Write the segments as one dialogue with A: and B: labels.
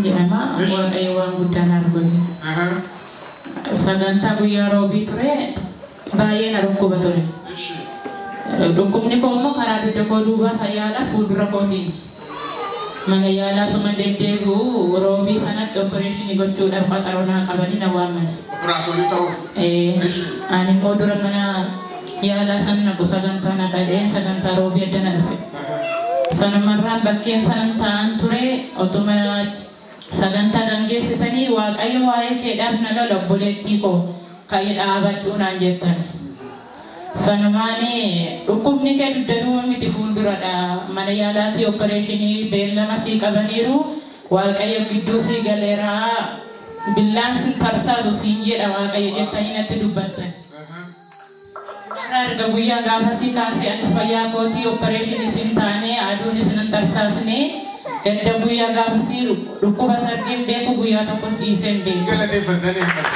A: jedhama Ish. waaqayyo waan guddaa naaf godhe Aha. sagantaa guyyaa roobii ture baay'ee na dhukkuba ture Ishi. dhukkubni koo immoo karaa dugda koo duubaa fayyaadha fuuldura kootiin Mana yaalaa osuma deddeebi'uu Roobii sanatti opereeshinii gochuudhaaf qaxaroo naa qabanii na waamani. Operaasonii ta'uuf.
B: Ee, Ishi.
A: Ani immoo dura mana yaalaa san naqu sagantaa na dhaga'een sagantaa Roobii adda na dhufe. Sanumarraan bakkeen sanan taa'an ture otuma Sagantaa gangeessitanii Waaqayyo waa'ee keedhaaf na lola obboleettii koo ka'i dhaabadhuu naan jettan. Sanumaan dhukkubni kee dugda duwwa miti fuulduradha mana yaalaatii oppereeshinii beellama sii qabaniiru Waaqayyo gidduu sii galeera billaan sin tarsaasu siin jedha Waaqayyo jettanii natti dubbattan. Har'a erga guyyaa gaafasii kaasee anis fayyaa kootii oppereeshiniis hin taane, aduunis nan tarsaasne. Gadda guyyaa gaafasii dhukkubas argee hin beeku, guyyaa tokkos ciisee hin beeku. Galateeffattan eebbas.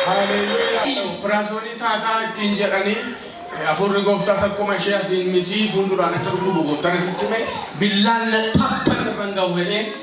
B: Haaleluyyaa. Operaasyoonii taataa ittiin jedhanii hafuurri gooftaa takkuma ishee asiin mitii fuulduraan akka dhukkubu gooftaan asitti hime billaan na tapha sirran gahu jedhee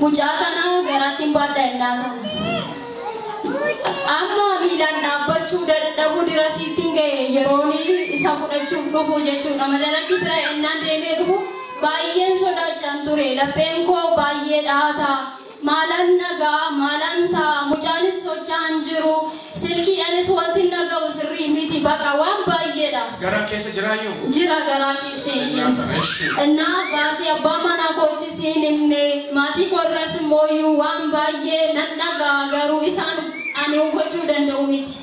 C: Mucaa kana garaattiin baadha ennaa sana. Amma miilaan dhaabbachuu dadhabuu dirasiittiin ga'e yeroon isa fudhachuuf dhufu jechuudha. Madarakii bira ennaan deemee dhufu baay'een sodaachaan ture. Lapheen koo baay'ee dhaataa. Maalan dhagaa, maalan ta'a, mucaanis socho'aa hin jiru. Silkii anis wantin dhaga'u sirrii miti baqa waan baayyeedha. Garaa keessa jiraayyuu?
B: Jira garaa keessa
C: hin Ennaa jiru. sana ishi. Ennaa baasii abbaa manaa koottis hin himne maatii koo irraas immooyyuu waan baayyee nan dhaga'a garuu isaan ani hubachuu danda'u miti.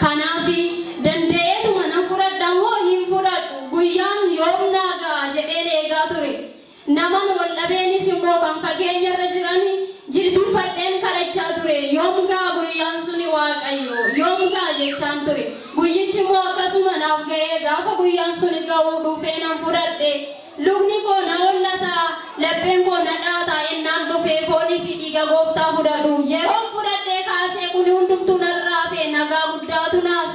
C: Kanaafi danda'eetuma nan fudhadha moo hin fudhadhu guyyaan yoom naa ga'a jedheen eegaa ture. Naman wal dhabeenis immoo kan fageenyarra jiran jilbiffadheen kadhachaa ture. Yoom ga'a guyyaan suni Waaqayyo? Yoom ga'a? jechaan ture. Guyyichi immoo akkasuma naaf ga'ee gaafa guyyaan suni ga'u dhufee nan fudhadhe. Lubni koo na hollata, lapheen koo na dhaata ennaan dhufee foonii fi dhiiga Gooftaa fudhadhu. Yeroon fudhadhee kaasee kuni hundumtuu narraa hafe nagaa guddaatu naaf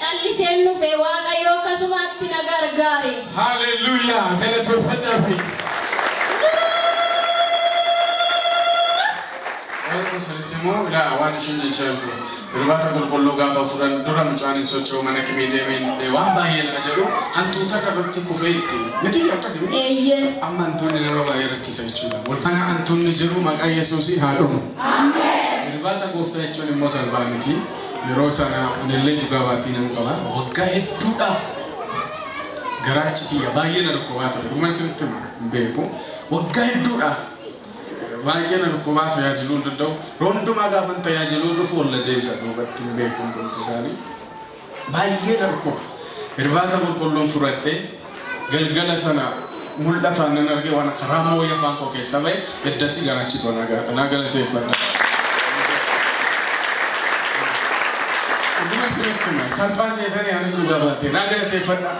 C: Calliseen dhufe waaqayyo akkasumaatti na gargaare. Hallelujah
B: galateeffadhaa fi Warra sanitti immoo ilaa waan ishiin jechaa jirtu irbaata qulqulluu gaafa furan dura mucaan hin socho'u mana kimii deemee hin dhufne waan baay'ee lafa jedhu hantuuta irratti kufee itti miti akkasi miti Eeyyee. amma hantuunni nama baay'ee rakkisa jechuudha wal kana hantuunni jedhu maqaa yesuusii haa dhumu irbaata gooftaa jechuun immoo salphaa miti Yeroo sana anillee dhugaa baatii nan qaba. Waggaa hedduudhaaf garaachi kiyya baay'ee na dhukkubaa ture. Dhuguman isinitti hima hin beeku. Waggaa hedduudhaaf baay'ee na dhukkubaa tajaajiluu hin danda'u. Yeroo hundumaa gaafan tajaajiluu dhufu ol na deebisa duubatti hin beeku hundumti isaanii. Baay'ee na dhukkuba. Irbaata qulqulluun fudhadhe Galgala sana mul'ataan nan arge waan akka raammoo wayii afaan koo keessaa ba'e eddasii garaachi koo naa ga- naa galateeffadha. Dhuguma isinitti hima salphaa seetanii anis dhugaa baatee naa galateeffadha.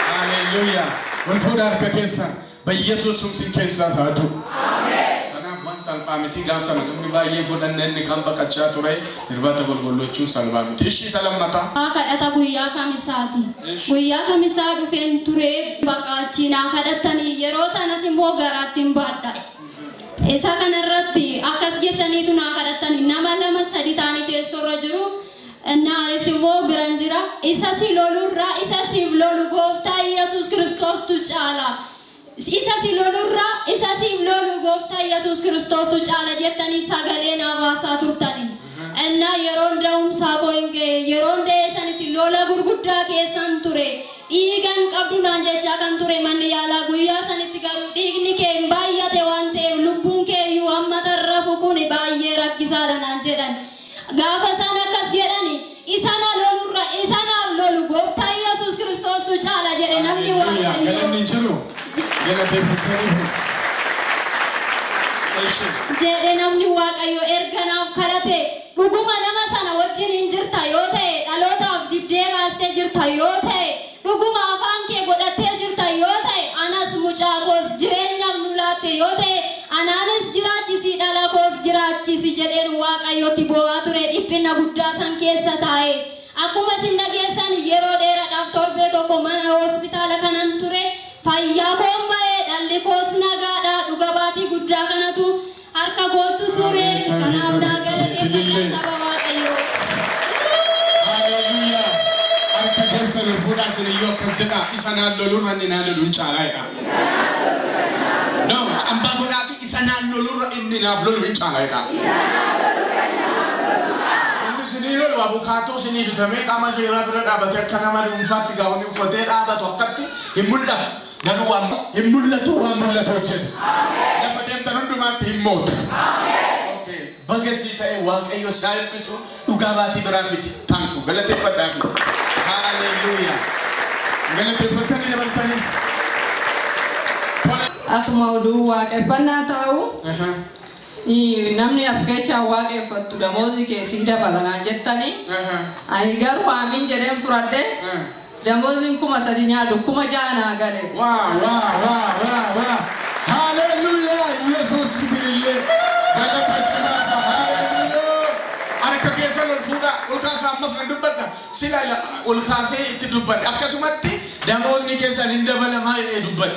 B: Haleluuyaa. Wal fuudhaa harka keessan. Bayyesuus sum sin keessaas haa du'u. Kanaaf waan salphaa miti gaaf sana namni baay'een fudhanne inni kaan baqachaa ture irbaata golgollochuun salbaa miti. Ishii isa lammataa. Haa kadhata guyyaa
C: kamisaati. Guyyaa kamisaa dhufeen turee baqaa achii naa kadhattanii yeroo sanas immoo garaattiin baadha. Isa kanarratti akkas jettaniitu naa kadhattani nama lama sadi taanii teessoorra jiru Innaa anis immoo biran jira, isa si lolu irra isa siif lolu Gooftaa Iyyasuus Kiristoostu caala. Isa si lolu irra isa siif lolu Gooftaa Iyyasuus Kiristoostu caala jettanii sagalee naa baasaa turtani. Innaa yeroon da'umsaa koo in ga'e, yeroon da'ee sanitti lola gurguddaa keessan ture. Dhiiga hin qabdu naan jechaa kan ture manni yaalaa guyyaa sanitti garuu dhiigni kee hin baay'ate waan ta'eef lubbuun kee iyyuu amma tarrafu kuni baay'ee rakkisaadha naan jedhan. Gaafa isaan akkas jedhani isa na lolurra isa naaf lolu gooftaa Yesuus Kiristoostu caala jedhe namni Haleluyaa. Waaqayyoo. Galanni jiru.
B: Galateeffatanii. Eshi.
C: jedhe namni waaqayyo erga naaf kadhate dhuguma nama sana wajjin hin jirta yoo ta'e dhalootaaf dibdee baastee jirta yoo ta'e Dhuguma afaan kee godhattee jirta yoo ta'e anas mucaa koos jireenyaaf nu laatte yoo ta'e anaanis jiraachisi dhala koos jiraachisi jedheen Waaqayyotti boo'aa ture dhiphinna guddaa san keessa taa'ee. Akkuma isin dhageessan yeroo dheeradhaaf torbee tokko mana hospitaala kanan ture fayyaa koon ba'e dhalli koos nagaadha dhuga baatii guddaa kanatu Harka goottu ture kanaaf naa galateeffadha
B: saba waaqayyoo. Haleluyaa harka keessan ol fuudhaa isin iyyuu akkas jedhaa isa naan lolu irra inni naa loluun caalaa jedhaa. No cambaa godhaati isa naan lolu irra inni naaf lolu hin caalaa jedhaa. Inni isinii lolu abukaatoo isinii bitamee qaama seeraa bira dhaabatee akka nama dhuunfaatti gaa'onii uffatee dhaabatu akkatti hin mul'atu. Garuu waan hin mul'atu waan mul'atu hojjeta. Lafa deemtan hundumaatti hin mootu. Okay. Baga sii ta'e Waaqayyo si haa eebbisu. Dhugaa baatii biraa fidi. Thank you. Galateeffadhaa fi. Hallelujah. Galateeffattanii dabaltanii. Tole.
D: Asuma oduu waaqeffannaa taa'u Aha. Namni as keechaa waaqeffattu damoozii kee sii dabala naan jettani. Ani garuu aamiin jedheen fudhadhe. Damooziin kuma sadi nyaadhu kuma ja'a naa gale. Waa waa waa
B: waa waa Haleluyaa Yesus sibilillee galata cimaasa Haleluyaa Harka keessan ol fuudhaa ol kaasaa ammas nan dubbadha sila ol kaasee itti dubbadhe akkasumatti damoonni keessan hin dabalamaa jedhee dubbadhe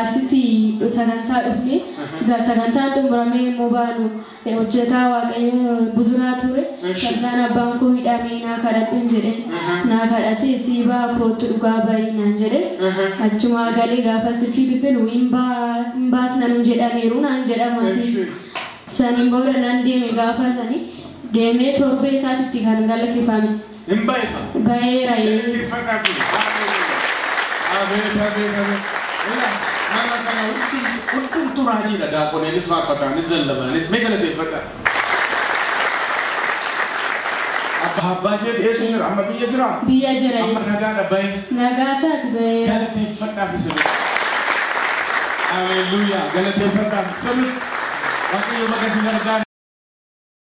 E: Asitti sagantaa dhufne. Sigaa sagantaan xumuramee yommuu baanu hojjetaa Waaqayyoo Buzuraa ture. Eshi. Farzaan abbaan koo hidhaa mee naa kadhadhun jedheen. Naa kadhatee sii ba'a koottu dhugaa ba'i naan jedhe. Achumaa galee gaafa silkii bilbilu hin ba'a hin baasna nun jedhaniiru naan jedha maatiin. Eshi. Saniin booda nan deeme gaafa sani deemee torbee isaatitti kan galakifame. Hin ba'e ka.
B: Ba'eera ee. Galateeffadhaa
E: fi haaleluyyaa. Abeet
B: abeet abeet. Ila nama kana hundumtu hundumtu raajiidha daaqoneenis faarfataanis lallabaanis mee galateeffadhaa. Abbaa abbaa jeeti eessa jira amma biyya jira. Biyya jira Amma ee.
E: nagaadha ba'e.
B: Nagaa isaati
E: ba'eera. Galateeffadhaa fi
B: sirriitti. Haaleluyyaa galateeffadhaa fi sirriitti. Waaqayyo baga si gargaare.